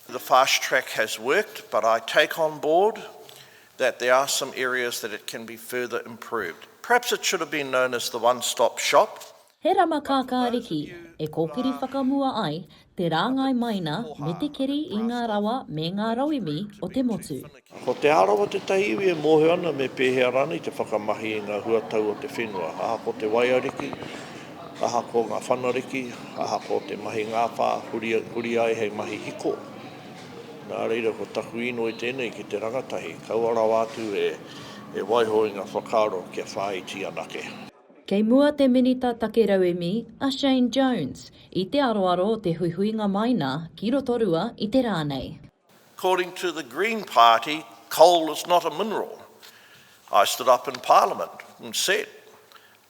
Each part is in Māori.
the fast track has worked but I take on board that there are some areas that it can be further improved. Perhaps it should have been known as the one stop shop. He rama kākāriki e kōkiri whakamua ai te rāngai maina me te keri i ngā rawa me ngā rauemi o te motu. Ko Te Arawa tētahi iwi e mōhio ana me pēhea rānei te whakamahi i ngā huatau o te whenua, aha ko te waiariki, aha ko ngā whanariki, aha ko te mahi ngāwhā huri, huri ai hei mahi hiko. Nā reira ko taku īnoi tēnei ki te rangatahi, kaua rawa atu e, e waiho i ngā whakaaro kia whāiti anake. Kei mua te Minita Take Rauemi, a Shane Jones, i te aroaro o te huihuinga mai nā ki Rotorua i te rā nei. According to the Green Party, coal is not a mineral. I stood up in Parliament and said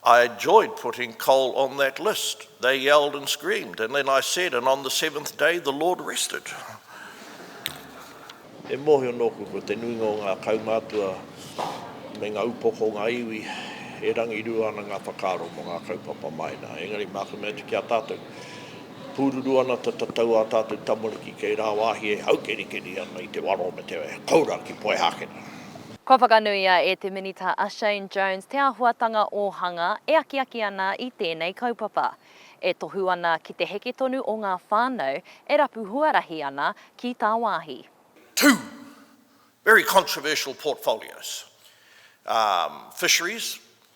I enjoyed putting coal on that list. They yelled and screamed and then I said, and on the seventh day the Lord rested. E mōhio nōku ko te nuinga o ngā kaumātua me ngā upoko o ngā iwi e rangirua ana ngā whakaaro mō ngā kaupapa māina, engari māku mea atu ki a tātou, Pūruru ana te tatau ā tātou tamariki kei rāwāhi e haukerikeri ana i te waro o Meteoea, koura ki Poihākena. Kua whakanuia e te Minita a Shane Jones te āhuatanga ōhanga e akiaki ana i tēnei kaupapa, e tohu ana ki te heke tonu o ngā whānau e rapu huarahi ana ki tāwāhi. Two very controversial portfolios, fisheries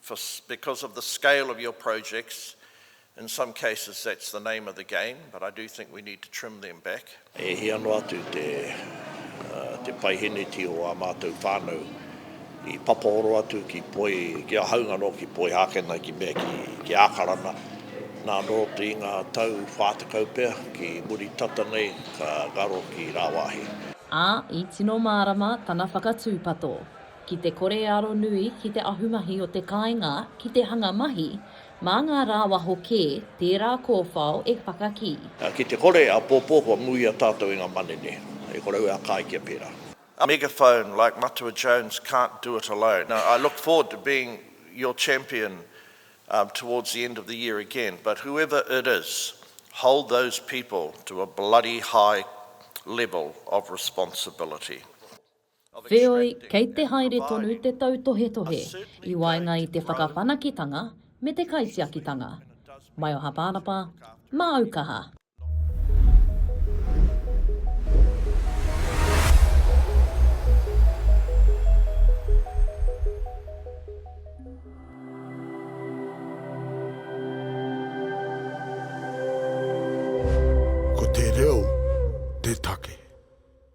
for because of the scale of your projects in some cases that's the name of the game but I do think we need to trim them back. E hia noa atu te te paiheneti o a mātou whānau i papaoro atu ki poi, ki a haunga no ki poi hākena ki mea ki, ki ākarana. Nā nō te inga tau whātakau pea ki muri tata nei ka ngaro ki rāwāhi. Ā, i tino mārama tana whakatūpato. ki te kore e aro nui ki te ahumahi o te kāinga ki te hanga mahi mā ngā rāwaho kē tērā kōwhao e whakakī. Ki te kore āpōpō kua muia tātou i ngā manene e korou ā kai kia pērā. Megaphone like Matua Jones can't do it alone. Now I look forward to being your champion towards the end of the year again but whoever it is hold those people to a bloody high level of responsibility. Wheoi, kei te haere tonu te tautohetohe i waenga i te whakawhanakitanga me te kaitiakitanga. Maio Haparapa, Māu Kaha. Ko te reo te take.